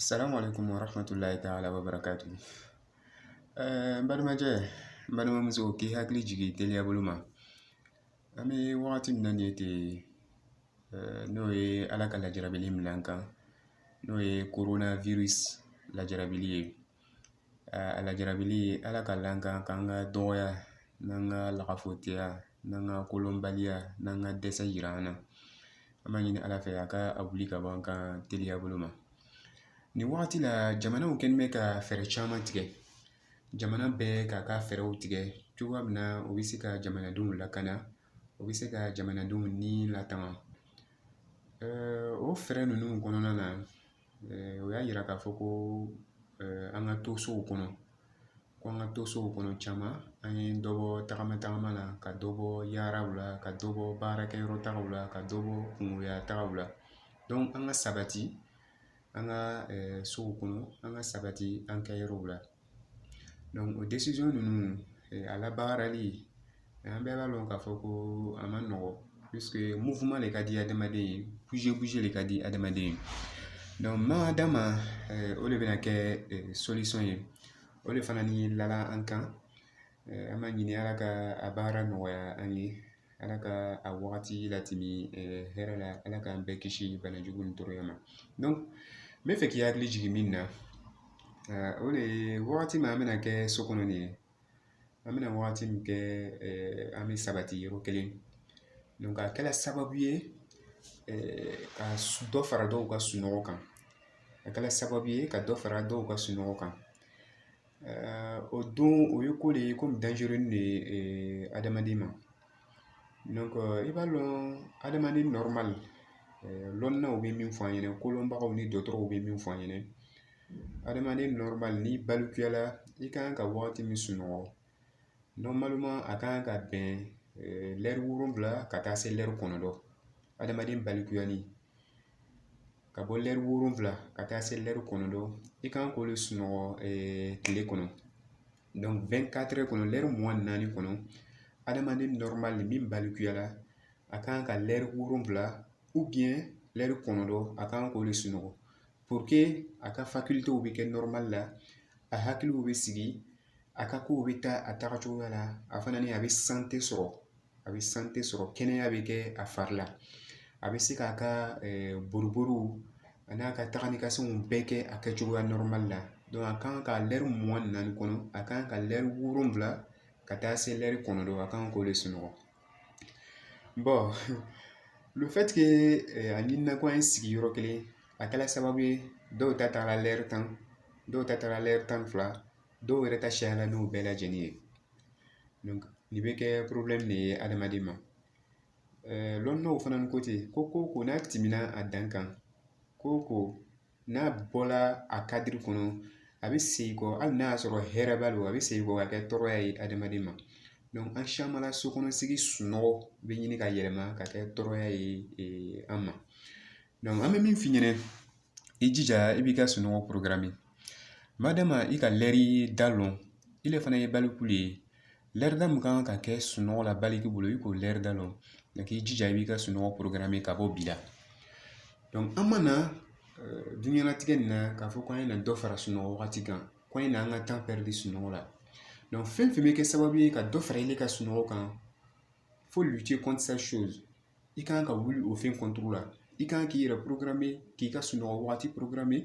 Assalamu alaikum wa rahmatullahi ta'ala wa barakatu. Eh, n balimacɛ n balimamuso k'i hakili jigi teliya bolo ma an bɛ wagati min na nin ye ten eh, n'o ye ala ka lajarabili min la an kan n'o ye korona virus lajarabili ye A lajarabili ala k'a la an kan ka an ka dɔgɔya n'an ka lafiyɛya n'an ka kolonbaliya n'an ka dɛsɛ jira an na an b'a ɲini ala fɛ a ka a wuli ka bɔ an kan teliya bolo ma nin wagati la jamanaw kɛlen bɛ ka fɛɛrɛ caman tigɛ jamana bɛɛ k'a ka fɛɛrɛw tigɛ cogoya min na u bɛ se ka jamanadenw lakana u bɛ se ka jamanadenw ni latanga o fɛɛrɛ ninnu kɔnɔna na o y'a yira k'a fɔ ko an ka to sow kɔnɔ ko an ka to sow kɔnɔ caman an ye dɔ bɔ tagama tagama la ka dɔ bɔ yaaraw la ka dɔ bɔ baarakɛyɔrɔ tagaw la ka dɔ bɔ kungoya tagaw la donc an ka sabati an ka sow kɔnɔ an ka sabati an kɛ yɔrɔw la o ninnu a labaarali an bɛɛ b'a dɔn k'a fɔ ko a ma nɔgɔn mufinma de ka di adamaden ye de ka di adamaden ye n'a d'a ma o de bɛna kɛ ye o de fana ni laada an kan An b'a ɲini ala ka a baara nɔgɔya an ye ala ka a wagati latɛmɛ hɛrɛ la ala k'an bɛɛ kisi bana jugu ni tɔɔrɔya ma donc n b'a fɛ k'i hakili jigin min na o de ye wagati min an bɛna kɛ so kɔnɔ nin ye an bɛna wagati min kɛ an bɛ sabati yɔrɔ kelen donc a kɛra sababu ye ka dɔ fara dɔw ka sunɔgɔ kan a kɛra sababu ye ka dɔ fara dɔw ka sunɔgɔ kan o don o ye ko de ye ko min dangereux de ye adamaden ma donc i b'a dɔn adamaden normal lɔnnaw bɛ min fɔ an ɲɛna kolonbagaw ni dɔgɔtɔrɔw bɛ min fɔ an ɲɛna adamaden normal ni balikuyala i ka kan ka wagati min sunɔgɔ normalement a ka kan ka bɛn lɛri wolonwula ka taa se lɛri kɔnɔntɔn adamaden balikuya ni ka bɔ lɛri wolonwula ka taa se lɛri kɔnɔntɔn i kan k'o de sunɔgɔ tile kɔnɔ donc vingt-quatre heures kɔnɔ lɛri mugan ni naani kɔnɔ adamaden normal min balikuyara a kan ka lɛri wolonwula ou bien lɛri kɔnɔntɔn a kan k'o de sunɔgɔ pour que a ka facultéw bɛ kɛ normal la a hakiliw bɛ sigi a ka kow bɛ taa a tagacogoya la a fana ni a bɛ santé sɔrɔ a bɛ santé sɔrɔ kɛnɛya bɛ kɛ a fari la a bɛ se k'a ka boribori a n'a ka taga ni ka seginw bɛɛ kɛ a kɛcogoya normal la a kan ka lɛri mugan ni naani kɔnɔ a kan ka lɛri wolonwula ka taa se lɛri kɔnɔntɔn a kan k'o de sunɔgɔ bon le fait que a ɲinina ko an ye sigi yɔrɔ kelen a kɛla sababu ye dɔw ta taara lɛri tan dɔw ta taara lɛri tan ni fila dɔw yɛrɛ ta cayala n'o bɛɛ lajɛlen ye donc nin bɛ kɛ problème de ye adamaden ma lɔnnaw fana ko ten ko ko n'a tɛmɛna a dan kan ko ko n'a bɔla a kadiri kɔnɔ a bɛ segin kɔ hali n'a y'a sɔrɔ hɛrɛ b'a la a bɛ segin kɔ ka kɛ tɔɔrɔya ye adamaden ma donc an caman na so kɔnɔ sigi sunɔgɔ bɛ ɲini ka yɛlɛma ka kɛ tɔɔrɔya ye an ma donc an bɛ min f'i ɲɛna i jija i b'i ka sunɔgɔ programme madama i ka lɛri da lɔn ile fana ye baliku de ye lɛri da min kan ka kɛ sunɔgɔ la baliku bolo i k'o lɛri da lɔn donc i jija i b'i ka sunɔgɔ programme ka bɔ bi la donc an mana dunɲɛnatigɛ nin na k'a fɔ k'an ye na dɔ fara sunɔgɔ wagati kan ko an ye na an ka temps perdu sunɔgɔ la donc fɛn fɛn bɛ kɛ sababu ye ka dɔ fara i ka sunɔgɔ kan faut lutter contre cette chose i kan ka wuli o fɛn contre la i kan k'i yɛrɛ programme k'i ka sunɔgɔ waati programme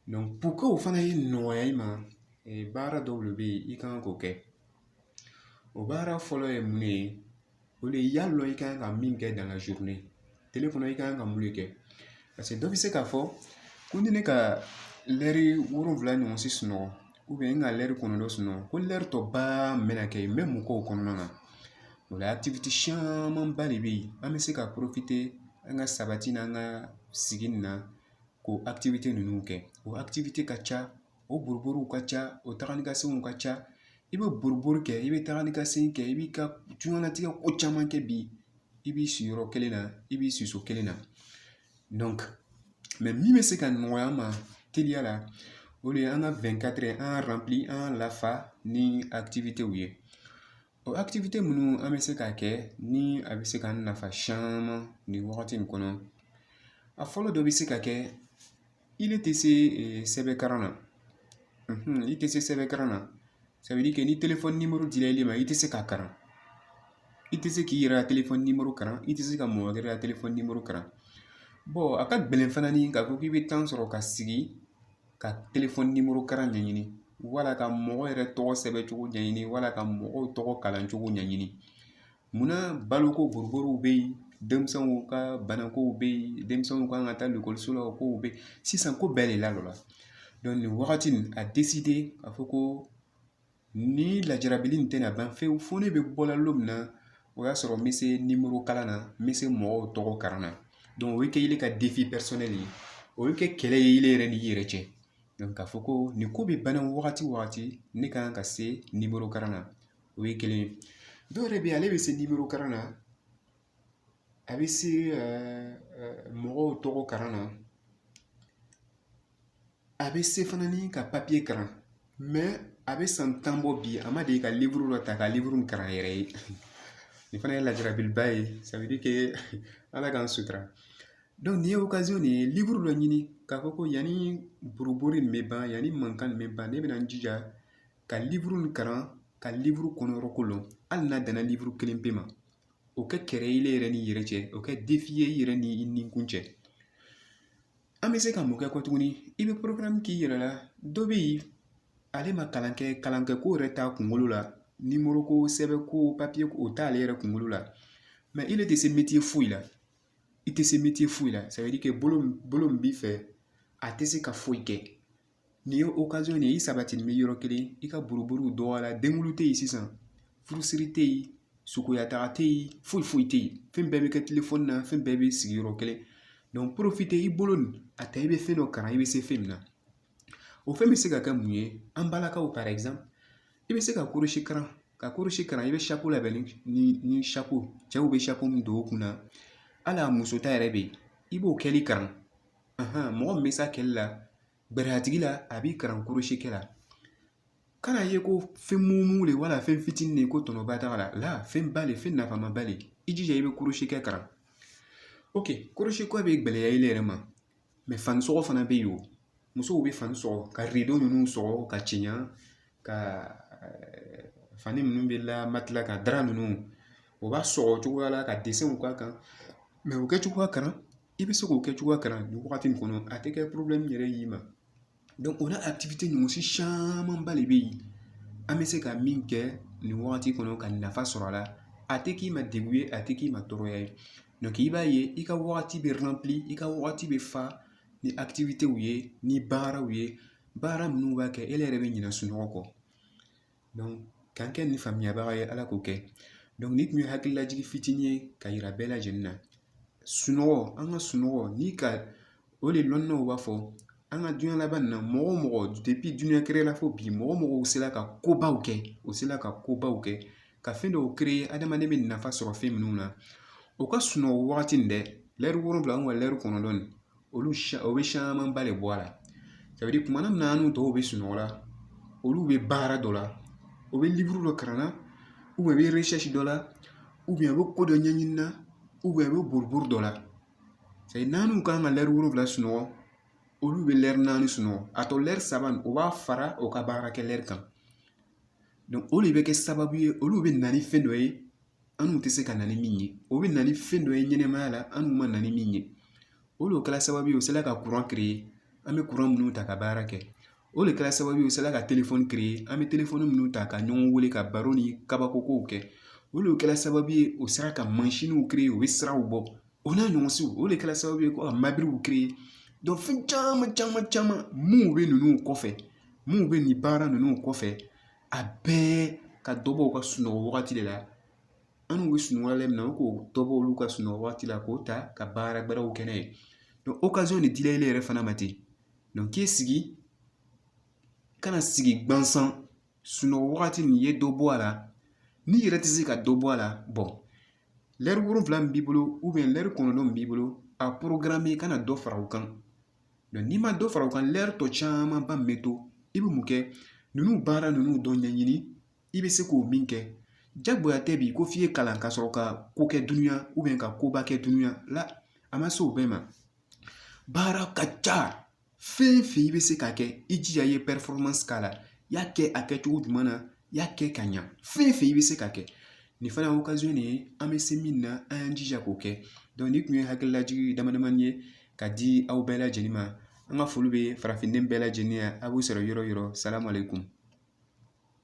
donc pour que o fana ye nɔgɔya i ma baara dɔw de bɛ yen i kan k'o kɛ o baara fɔlɔ ye mun ye o de ye y'a dɔn i kan ka min kɛ dans la journée tele kɔnɔ i kan ka mun de kɛ paseke dɔ bɛ se k'a fɔ ko ni ne ka lɛri wolonwula ɲɔgɔn si sunɔgɔ n ka lɛri kɔnɔntɔn sunɔgɔ ko lɛri tɔ ba min bɛna kɛ n bɛ mun k'o kɔnɔna na o la akitivite camanba de bɛ yen an bɛ se ka profiter an ka sabati n'an ka sigi nin na k'o akitivite ninnu kɛ o akitivite ka ca o boriboriw ka ca o taga ni ka seginw ka ca i bɛ boribori kɛ i bɛ taga ni ka segin kɛ i b'i ka diɲɛnatigɛ ko caman kɛ bi i b'i sigi yɔrɔ kelen na i b'i sigi so kelen na donc mɛ min bɛ se ka nɔgɔya an ma teliya la o de ye an ka vingt-quatre heures an k'a ranpli an k'a lafa ni akitivitew ye o akitivite minnu an bɛ se k'a kɛ ni a bɛ se k'an nafa caman nin wagati in kɔnɔ a fɔlɔ dɔ bɛ se ka kɛ Ile tɛ se sɛbɛn kalan na i tɛ se sɛbɛn kalan na ça veut dire que ni téléphone numéro dira ile ma i tɛ se k'a kalan i tɛ se k'i yɛrɛ ka téléphone numéro kalan i tɛ se ka mɔgɔ wɛrɛ ka téléphone numéro kalan bon a ka gɛlɛn fana ni k'a fɔ k'i bɛ temps sɔrɔ ka sigi ka téléphone numéro kalan ɲɛɲini wala ka mɔgɔ yɛrɛ tɔgɔ sɛbɛn cogo ɲɛɲini wala ka mɔgɔw tɔgɔ kalan cogo ɲɛɲini Munna baloko boroborow bɛ yen denmisɛnninw ka banako bɛ yen denmisɛnninw kan ka taa ekɔliso la o kow bɛ yen sisan ko bɛɛ de lalɔra donc nin wagati nin a décidé k'a fɔ ko ni lajarabi in tɛna ban pewu fo ne bɛ bɔla don min na o y'a sɔrɔ n bɛ se nimoro kalan na n bɛ se mɔgɔw tɔgɔ kalan na o ye kɛ ile ka defi personnel ye o ye kɛ kɛlɛ ye ile yɛrɛ ni i yɛrɛ cɛ k'a fɔ ko nin ko bɛ ban wagati o wagati ne kan ka se nimoro kalan na o ye kelen ye dɔw yɛrɛ bɛ yen ale bɛ se nimoro kalan na a bɛ se mɔgɔw tɔgɔ kalan na a bɛ se fana ni ka papiye kalan mɛ a bɛ san tan bɔ bi a ma deli ka liburu dɔ ta ka liburu kalan yɛrɛ ye nin fana ye lajarabiliba ye ça veut dire que ala k'an sutura donc nin ye okazɔn de ye liburu dɔ ɲini k'a fɔ ko yanni buruburu nin bɛ ban yanni mankan nin bɛ ban ne bɛna n jija ka liburu nin kalan ka liburu kɔnɔ yɔrɔ ko lɔn hali n'a danna liburu kelen pe ma o kɛ kɛlɛ ye i yɛrɛ ni i yɛrɛ cɛ o kɛ defi ye i yɛrɛ ni i nikun cɛ an bɛ se ka mun kɛ kɔ tuguni i bɛ porokaramu k'i yɛrɛ la dɔ bɛ yen ale ma kalan kɛ kalan kɛ ko yɛrɛ t'a kunkolo la nimoro ko sɛbɛn ko papiye ko o t'ale yɛrɛ kunkolo la mɛ ile tɛ se metiye foyi la i tɛ se metiye foyi la ça veut dire que bolo bolo min b'i fɛ a tɛ se ka foyi kɛ Nin ye okazɔn de ye i sabatinin bɛ yɔrɔ kelen i ka buruburuw dɔgɔyara denkundi tɛ yen sisan furusiri tɛ yen sukoya taga tɛ yen foyi foyi tɛ yen fɛn bɛɛ bɛ kɛ telefɔni na fɛn bɛɛ bɛ sigi yɔrɔ kelen donc porofite i bolo nin a ta i bɛ fɛn dɔ kalan i bɛ se fɛn min na o fɛn bɛ se ka kɛ mun ye an balakaw par exemple i bɛ se ka korosi kalan ka korosi kalan i bɛ sapo labɛn ni ni sapo cɛw bɛ sapo min don o kun na hali a muso ta yɛrɛ bɛ yen i b'o kɛli kalan mɔgɔ min bɛ s'a kɛli la bɛrɛ tigi la a b'i kalan korosi kɛ la kan'a ye ko fɛn mugu de wala fɛn fitinin de ko tɔnɔba t'a la la fɛn ba de fɛn nafama ba de i jija i bɛ korosi kɛ kalan ok korosi ko bɛ gɛlɛya i yɛrɛ ma mɛ fani sɔgɔ fana bɛ yen o musow bɛ fani sɔgɔ ka rido ninnu sɔgɔ ka cɛɲa ka fani ninnu bɛ la matila ka dara ninnu o b'a sɔgɔ cogoya la ka dessinw k'a kan mɛ o kɛ cogoya kalan i bɛ se k'o kɛ cogoya kalan nin wagati in kɔnɔ a tɛ kɛ problème yɛrɛ y'i ma donc o n'a activité ɲɔgɔn si camanba de bɛ yen an bɛ se ka min kɛ nin wagati kɔnɔ ka nafa sɔrɔ a la a tɛ k'i ma degun ye a tɛ k'i ma tɔɔrɔya ye donc i b'a ye i ka wagati bɛ rempli i ka wagati bɛ fa ni activitéw ye ni baaraw ye baara minnu b'a kɛ e yɛrɛ bɛ ɲinɛ sunɔgɔ kɔ k'an kɛ nin faamuyabaga ye ala k'o kɛ donc ni tun ye hakililajigin fitinin ye ka yira bɛɛ lajɛlen na sunɔgɔ an ka sunɔgɔ ni ka o de lɔnnaw b'a fɔ an ka diɲɛ laban nin na mɔgɔ o mɔgɔ depuis diɲɛ créé la fo bi mɔgɔ o mɔgɔ sera ka kobaw kɛ u sera ka kobaw kɛ ka fɛn dɔw créer adamaden bɛ nafa sɔrɔ fɛn minnu na u ka sunɔgɔ wagati nin dɛ lɛri wolonwula an ka lɛri kɔnɔntɔn nin olu siya o bɛ siyamanba de bɔ a la ça veut dire tuma min na an n'u tɔw bɛ sunɔgɔ la olu bɛ baara dɔ la u bɛ livre dɔ kalan na ou bien u bɛ recherche dɔ la ou bien a bɛ ko dɔ ɲɛɲini na ou bien a bɛ boribori dɔ la c'est à dire n'an n'u kan ka lɛri wolonwula sunɔgɔ olu bɛ lɛri naani sunɔgɔ a tɔ lɛri saba u b'a fara u ka baarakɛ lɛri kan donc o de bɛ kɛ sababu ye olu bɛ na ni fɛn dɔ ye an n'u tɛ se ka na ni min ye o bɛ na ni fɛn dɔ ye ɲɛnɛmaya la an n'u ma na ni min ye o de kɛra sababu ye u sera ka kuran créer an bɛ kuran minnu ta ka baara kɛ o de kɛra sababu ye u sera ka telefɔni créer an bɛ telefɔni minnu ta ka ɲɔgɔn weele ka baro ni kabakokow kɛ o de kɛra sababu ye o sera ka mansinw créer u bɛ siraw bɔ o n'a ɲɔgɔn siw o de kɛra sababu ye ko ka mabiriw créer donc fɛn caman caman caman minnu bɛ ninnu kɔfɛ minnu bɛ nin baara ninnu kɔfɛ a bɛɛ ka dɔ bɔ u ka sunɔgɔ wagati de la an n'u bɛ sunɔgɔ la min na u k'o dɔ bɔ olu ka sunɔgɔ waati la k'o ta ka baara wɛrɛw kɛ n'a ye donc occasion de dilen ile yɛrɛ fana ma ten donc k'i sigi kana sigi gansan sunɔgɔ wagati nin ye dɔ bɔ a la n'i yɛrɛ tɛ se ka dɔ bɔ a la bon lɛri wolonfila min b'i bolo ou bien lɛri kɔnɔntɔn min b'i bolo a programme kana dɔ fara u kan n'i ma dɔ fara u kan lɛri tɔ camanba min bɛ to i bɛ mun kɛ ninnu baara ninnu dɔ ɲɛɲini i bɛ se k'o min kɛ jagoya tɛ bi ko f'i ye kalan ka sɔrɔ ka ko kɛ dunuya ou bien ka koba kɛ dunuya la a ma se o bɛɛ ma baara ka ca fɛn fɛn i bɛ se k'a kɛ i jija i ye performance k'a la i y'a kɛ a kɛcogo ɲuman na y'a kɛ ka ɲa fɛn fɛn i bɛ se k'a kɛ nin fana ye occasion de ye an bɛ se min na an y'an jija k'o kɛ donc ni tun ye hakililajigin dama damani ye ka di aw bɛɛ lajɛlen ma an ka foli bɛ farafinden bɛɛ lajɛlen ye a b'u sɔrɔ yɔrɔ yɔrɔ salamu aleykum